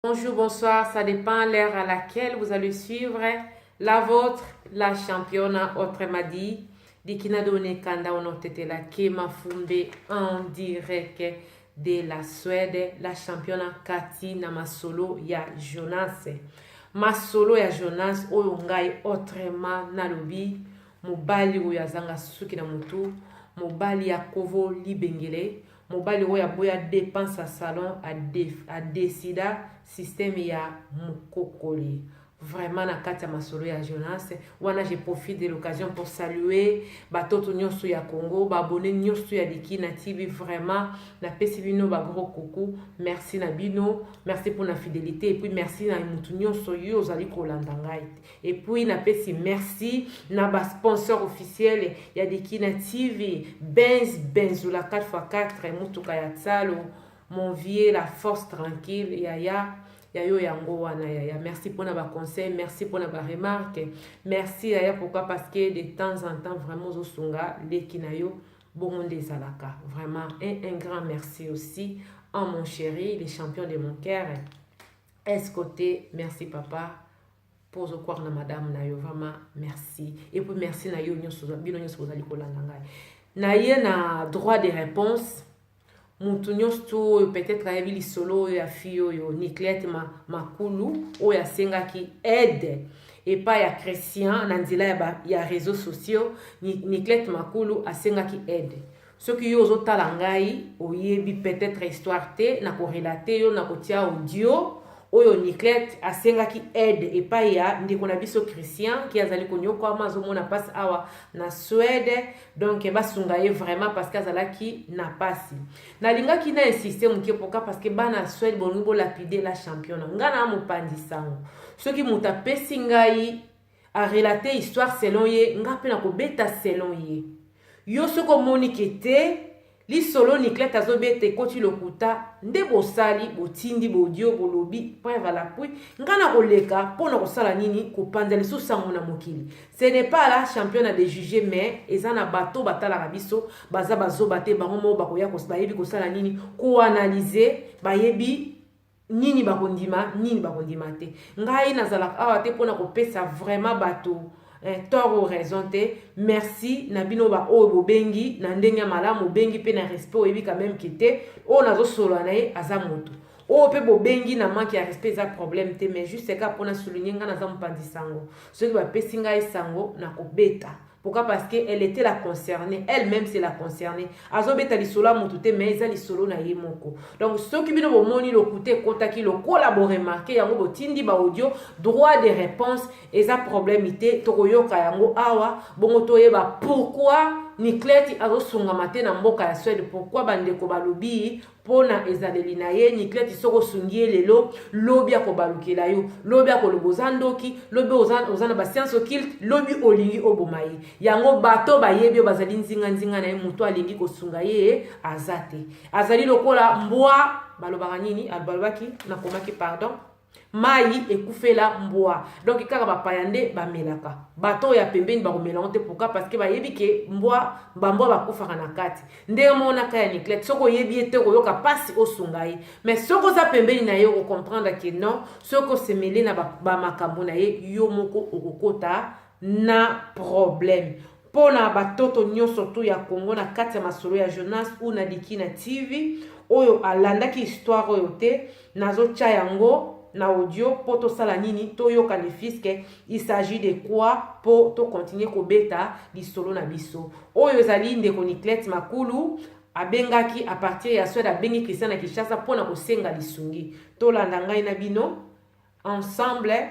Bonjour, bonsoir, ça dépend l'heure à laquelle vous allez suivre la vôtre, la championne autrement dit, Dikina Done Kanda la Kema Fumbe en direct de la Suède, la championne Cathy Namasolo ya Jonas. Masolo ya Jonas oyo ngai autrement nalobi mobali oyo azanga suki na mutu, mobali ya kovo libengele, Mobali oyo aboya depense ya salon a decida système ya mukokoli. vraiment na kati ya masolo ya jonas wana je profite de l'occasion pour saluer batoto nyonso ya congo baabone nyonso ya likina tv vraiment napesi bino bagro kuku merci na bino merci mpo na fidelité epuis merci na motu nyonso yo ozali kolanda ngai Et puis na pesi merci na ba sponsor officiel ya Dikina TV, Benz Benzula 4x4 mutuka ya Tsalo, mon vieux la force tranquille yaya ya yo yango wana yaya merci mpona baconseil merci mpona baremarke merci yaya pourquoi parce que de temps en temps vraiment ozosunga leki na yo bongo nde ezalaka vraiment un, un grand merci aussi en mon chéri les champions de mon cœur est côté merci papa mpo ozokwaka na madame na yo vraiment merci et puis merci na yo nyonso bino nyonso bozali kolanda ngai naye na droit de réponse motu nyonso tu oyo peut-être ayebi lisolo oyo ya fille oyo niclete ma, makulu oyo asengaki aide epai ya christian na nzela ya, ba, ya réseau sociaux niclete makulu asengaki aide soki yo ozotala ngai oyebi peut-être histoire te na korelate yo na kotia audio oyo niclette asengaki aide epai ya ndeko na biso christian ki azali konyokwama azomona mpasi awa na swede donk basunga ye vraiment parce que azalaki na mpasi nalingaki na insiste moke poka parce que bana ya swede bolingi bolapide la championa ngai na mopanzi sango soki moto apesi ngai a relate histoire selon ye nga mpe nakobeta selon ye yo soki omoni ke te lisolo niclete azobeta ekoti lokuta nde bosali botindi bodio bolobi preuve alapui nga na koleka mpo na kosala nini kopanza lisusu sango na mokili ce n'est pas la championa de juge mais eza na bato batalaka biso baza bazoba te bango moko bakoya bayebi kosala nini koanalyse bayebi nini bakondima nini bakondima te ngai nazalaka awa te mpona kopesa vraiment bato eh, tort ou raison te merci na bino baoyo bobengi na ndenge ya malamu obengi mpe na respect oyebi quand même ke te oyo nazosolola na ye aza moto oyo mpe bobengi na manke ya respect eza problème te mais juste kaka mpona souligne ngai naza mopanzi sango soki bapesi ngai sango nakobeta pourquoi parce que elle était la concernée elle même c'est la concernée azobeta lisolo ya motu te mais eza lisolo na ye moko donc soki bino bomoni lokuta ekotaki lokola boremarke yango botindi baaudio droit de réponse eza problème te tokoyoka yango awa bongo toyeba pourquoi nikleti azosungama te na mboka ya swede pourkui bandeko balobi mpo na ezaleli na ye nikleti soki osungi ye lelo lobi akobalukela yo lobi akoloba oza ndoki lobi oza, oza na basiance okilte lobi olingi oboma ye yango bato bayebi oyo bazali nzinganzinga na ye moto alingi kosunga ye aza te azali lokola mbwa balobaka nini alobaki nakomaki pardon mayi ekufela mbwa donc kaka bapaya nde bamelaka bato oyo ya pembeni bakomela yango te pourka parce que bayebi ke mbwa bambwa bakufaka na kati ndenge monaka ya niclete soki oyebi ye te okoyoka mpasi osunga ye mais soki oza pembeni na ye okomprendre ke non soki osemeli na bamakambo na ye yo moko okokota na problème Pona ba toto nyoso tout ya Congo na kati ya masolo ya Jonas ou na Dikina TV oyo alandaki histoire oyo te nazo tya yango na audio mpo tosala nini toyoka ne fiske il s'agit de quoi mpo tokontinue kobeta lisolo na biso oyo ezali ndeko niclete makulu abengaki a partir ya swede abengi christian na kinshasa mpo na kosenga lisungi tolanda ngai na bino ensemble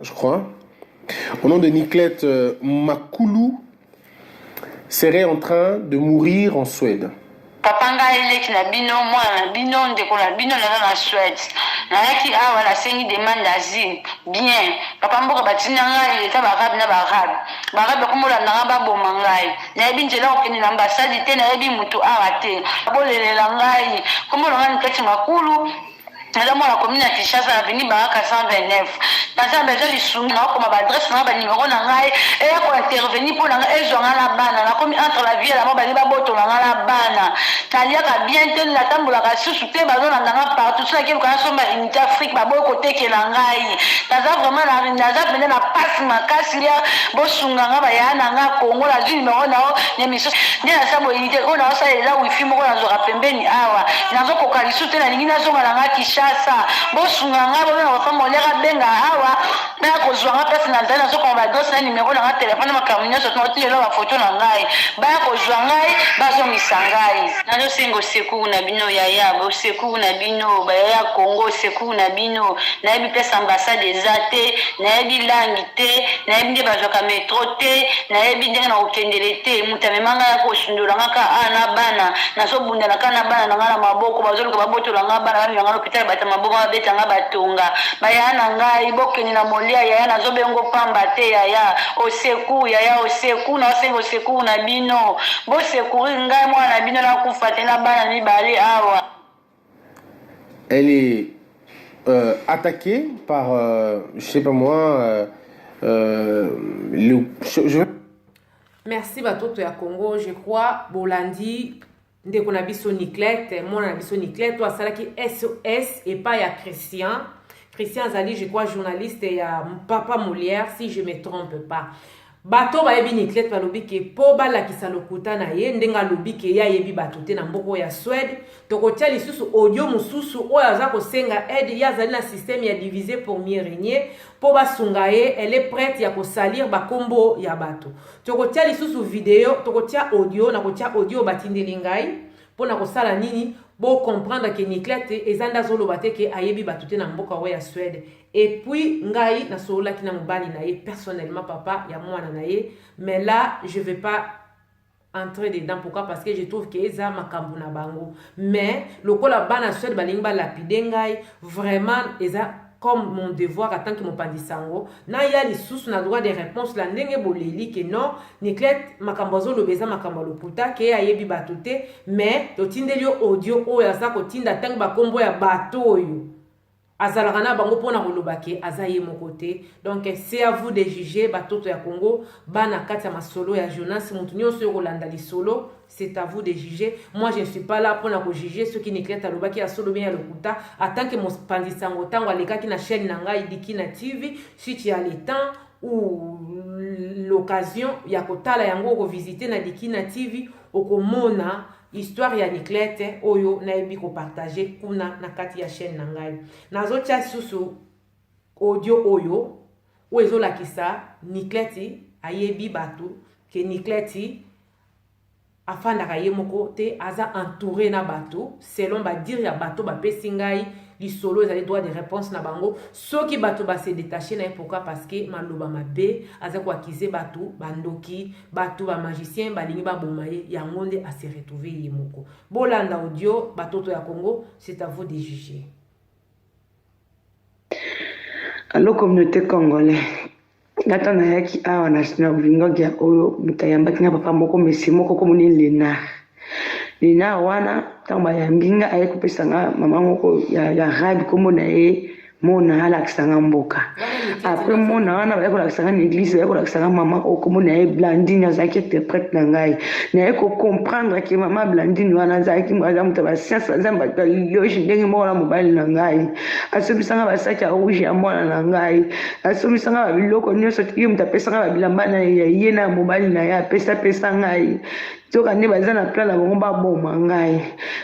je crois, au nom de Niclette euh, Makulu, serait en train de mourir en Suède. papa ngai leki na bino mwana na bino ndeko na bino naza na swede nayaki awa nasengi demande asile bien papa mboka batinda ngai eza baarabe na baarabe baarabe bakomolanda ngai baboma ngai nayebi nzela kokende na ambasadi te nayebi motu awa te bolelela ngai komona ngai nikati makulu naza mwana commune ya kinshasa na veni baraka 129 naza bezo lisumi naokoma baadresse nanga banimero na ngai eya kointerveni mpo na ngai ezwa ngai na bana nakomi entre la vie lama balingi babotola ngai na bana naliaka bien te natambolaka susu te bazolanda ngai partout so nakeluka nasomba unité afrique baboyi kotekela ngai naza vraiment naza mpenza na pasi makasi ya bosunga ngai bayaya na ngai kongo nazwi nimero nao na emission nde nasala boyini te oyo naosala eza wifi moko nazwaka pembeni awa nazokoka lisusu te nalingi nazonga na nga kinshasa bosunga nga bobena papa moliaka benga awa naya kozwa nga place nazali nazokoma badosi na nimero na nga telefone makambo nyonso toti lelo bafoto na ngai baya kozwa ngai bazongisa ngai nazosenga osekuru na bino yaya bosekuru na bino bayaya congo osekuru na bino nayebi place ambassade eza te nayebi langi te nayebi nde bazwaka metro te nayebi ndenge nakokendele te moto amema ngai akosundola nga ka a na bana nazobundana ka na bana na ngai na maboko bazoluka babotola ngai bana bamema ngai lopital bata maboko babeta ngai batonga bayaya na ngai bokende na molia yaya nazobengo pamba te yaya oseku yaya oseku naosenga oseku na bino bosekuri ngai mwana na bino nakufa te na bana mibale awa elle est euh, attaquée par, euh, je sais pas moi, euh, euh, le, je, je... Merci Batoto ya Congo, je crois, Bolandi, ndeko na biso Niclette, mwana na biso Niclette, toi asalaki SOS et pas ya Christian. Christian Azali, je crois, journaliste ya Papa Molière, si je me trompe pas. bato oyo bayebi niclete balobi ke mpo balakisa lokuta na ye ndenge alobi ke ye ayebi bato te na mboka oyo ya swede tokotya lisusu audio mosusu oyo aza kosenga aide ye azali na systeme ya divise pour mieux régner mpo basunga ye elle est prête ya kosalir bakombo ya bato tokotya lisusu video tokotya audio na kotya audio oyo batindeli ngai mpo na kosala nini bocomprendre ke niclete eza nde azoloba te ke ayebi bato te na mboka oyo ya swede Et puis, ngai, na solo laki na mobali na ye, personnellement, papa, ya mwana na ye. Mais là, je vais pas entrer dedans. Pourquoi? Parce que je trouve que eza makambu na bango. Mais, lokola bana suede balingi ba lapide ngai, vraiment, eza comme mon devoir en tant que mopandi sango na ya lisusu na droit de réponse la ndenge boleli ke non niclete makambo azoloba eza makambo ya lokuta ke ayebi bato te mais totindeli yo audio oyo aza kotinda ntango bakombo ya bato oyo azalaka na bango mpo na koloba ke aza ye moko te donc c'est à vous de juger batoto ya congo bana kati ya masolo ya jonas moto nyonso oyo kolanda lisolo c'est à vous de juger moi je ne suis pas là mpo na kojuge soki niclete alobaki ya solo bien ya lokuta atanke mopanzi sango ntango alekaki na chaîne na ngai dikina tv si tu as le temps ou l'occasion ya kotala yango okovisite na dikina tv okomona histoire ya niclete oyo nayebi kopartage kuna na kati ya chaîne na ngai nazotya lisusu audio oyo oyo ezolakisa niclete ayebi bato ke niclete afandaka ye moko te aza entouré na bato selon badire ya bato bapesi ngai lisolo ezali droit de réponse na bango soki bato base détache na ye pourquoi parce que maloba mabe aza koakize bato bandoki bato ba magicien balingi baboma ye yango nde ase retrouve ye moko bolanda audio batoto ya congo c'est à vous de juger allo communauté congolais nga ntango nayaki awa na bolingogia oyo moto ayambaki nga papa moko mesi moko komoni lénard Nina wana ntango bayambi nga aye kopesa nga mama moko ya, ya rabi nkombo na ye mona alakisa nga mboka apres mona wana baye kolakisa nga na eglise baye kolakisa nga mama oyo nkombo na ye blandine azalaki interprète na ngai naye kocomprendre ke mama blandine wana azalaki aza moto ya basianse aza bato ya loge ndenge moko na mobali na ngai asomisa nga basaki ya rouge ya mwana na ngai asomisa nga babiloko nyonso ye moto apesa nga babilamba na ye na mobali na ye apesa pesa ngai Soka nde baza na plan na bango baboma ngai.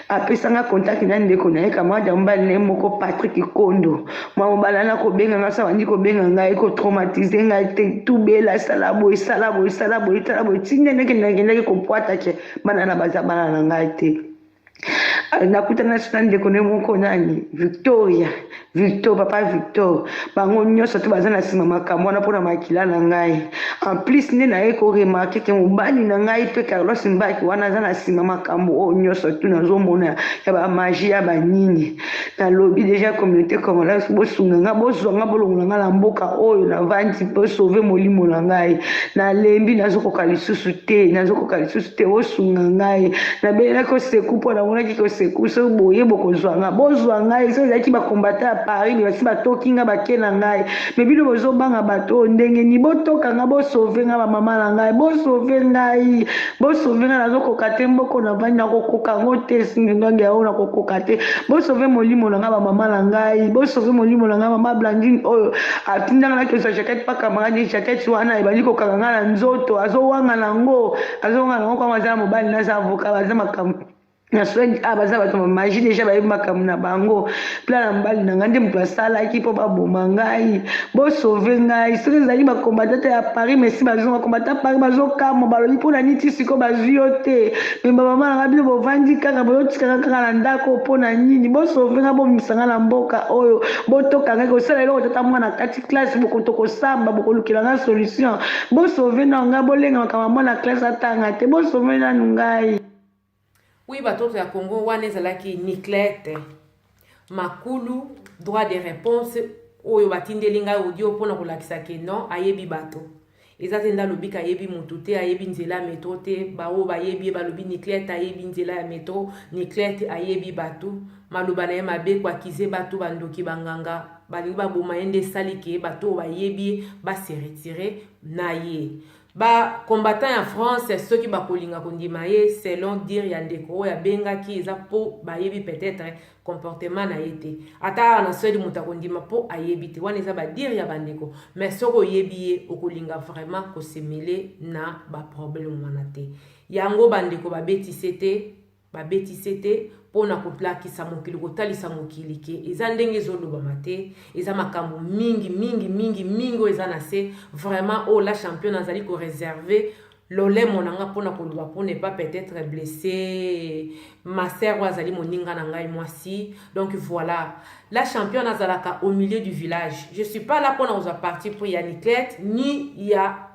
Apesa nga contact na ndeko na ye camarade ya mobali na ye moko Patrick Kondo. Mwa mobali wana kobenga nga sa bandi kobenga ngai ko traumatiser ngai te tubela sala boye sala boye sala boye sala boye ti ndenge nakendaki kopwata ke bana na baza bana na ngai te. nakutana na ndeko ne moko nani victoria victor papa victor bango nyonso to baza na nsima makambo wana mpona makila na ngai en plus nde naye koremarke ke mobali na ngai mpe carlos mbaki wana aza na nsima makambo oyo nyonso tu nazomona ya bamagi ya banini nalobi deja communauté congolaise bosunga nga bozwa nga bolongola nga na mboka oyo navandi bosauve molimo na ngai nalembi nazokoka lisusu te nazokoka lisusu te bosunga ngai nabelelaki koseku mpo namonaki koseku so boye bokozwa nga bozwa ngai so ezalaki bakombata ya paris me basi batoki nga bake na ngai me bino bozobanga bato oyo ndenge ni botoka nga bosauve nga bamama na ngai bosauve ngai Bo sauver nga nazo koka te mboko na vandi nako koka ngo te singi ndonge ya oyo nako koka te bo sauver molimo na nga ba mama na ngai bo sauver molimo na nga mama Blandine oyo atinda nga nake zwa jaquette pa camarade jaquette wana ebandi ko kanga nga na nzoto azo wanga na ngo azo wanga na ngo kwa aza na mobali na za avocat baza makambo na soin a ah, baza bato bamaji deja bayebi makambo na bango plan na mobali na ngai nde moto asalaki mpo baboma ngai bosauve ngai soki ezalaki bakombata te ya paris mesi bazwi bakombata paris bazokamwa balobi mpo na niti sikoyo bazwi yo te me bamama na ngai bino bovandi kaka boyotikaka kaka na ndako mpo na nini bosauve ngai bomisa ngai na mboka oyo botoka ngai kosala eloko tata mwana kati classe bokoto kosamba bokolukela ngai solution bosauve nao ngai bolenga makambo ya mwana classe atanga te bosauve nanu ngai Oui, batoto ya Congo wana ezalaki nucleaire te. Makulu droit de réponse oyo batindeli ngai audio mpo na kolakisa ke non ayebi bato eza te nde alobi ke ayebi motu te ayebi nzela ya metro te baoyo bayebi ye balobi niclete ayebi nzela ya metro niclete ayebi bato maloba na ye mabe kuakize bato bandoki banganga balingi baboma ye nde esali ke bato oyo bayebi ye base retire na ye ba combattant ya france soki bakolinga kondima ye selon dire ya ndeko oyo abengaki eza mpo bayebi peut-être comportement na ye te ata awa na swede moto akondima mpo ayebi te wana eza badire ya bandeko mais soki oyebi ye okolinga vraiment kosemele na baproblème wana te yango bandeko babetise te babeti sete mpo na kolakisa mokili kotalisa mokili ke eza ndenge ezolobama te eza makambo mingi mingi mingi mingi oyo eza na se vraiment oyo oh, la champion azali koreserve lolemo na ngai mpo na koloba mpo ne pas peut-être blesse master oyo azali moninga na ngai mwasi donc voilà la championne azalaka au milieu du village je suis pas là mpo na kozwa parti pris ya niclette ni ya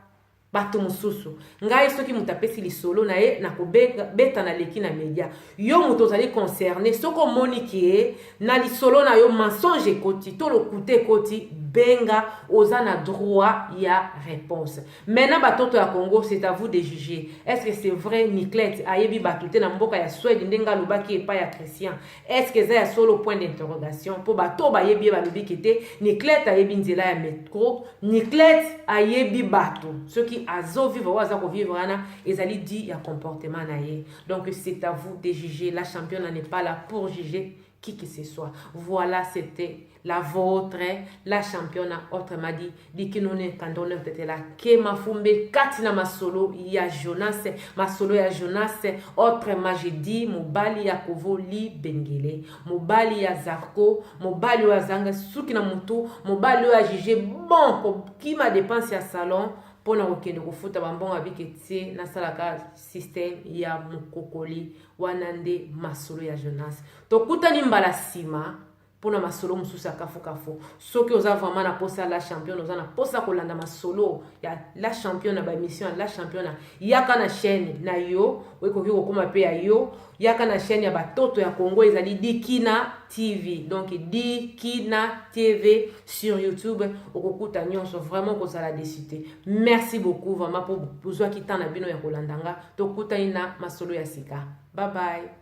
bato mosusu ngai soki moto apesi lisolo na ye nakobeta na leki na media yo moto ozali concerne soki omoni ke na lisolo na yo mensonge ekoti to lokuta ekoti benga oza na droit ya réponse maintenant batoto ya congo c'est à vous de juger est ce que c'est vrai niclette ayebi bato te na mboka ya swede ndenge alobaki epai ya christian est ce que eza ya solo point d'interrogation mpo bato oyo bayebi ye balobi ke te niclete ayebi nzela ya metro niclete ayebi bato soki azovivre oyo aza kovivre wana ezali di ya comportement na ye donc c'est à vous de juger la championne n'est pas là pour juger qui que ce soit voilà c'était la vôtre la championa autrement dit dikinone kandone tetela ke mafumbe kati na masolo ya jonas masolo ya jonas autrement je dis mobali ya kovo libengele mobali ya zarko mobali oyo azanga suki na motu mobali oyo ajuge bon kokima depense ya salon mpo na kokende kofuta bambongo abike tie nasalaka systeme ya mokokoli wana nde masolo ya jonas tokutani mbala nsima pona masolo mosusu ya kafu kafu soki oza vraiment na posa ya la champion oza na posa kolanda masolo ya la champion na ba émission ya la champion yaka na chaîne na yo okoki kokoma pe ya yo yaka na chaîne ya batoto ya congo ezali dikina tv donc dikina tv sur youtube okokuta nyonso vraiment kozala desu te merci beaucoup vraiment mpo bozwaki temps na bino ya kolanda nga tokutani na masolo ya sika bye bye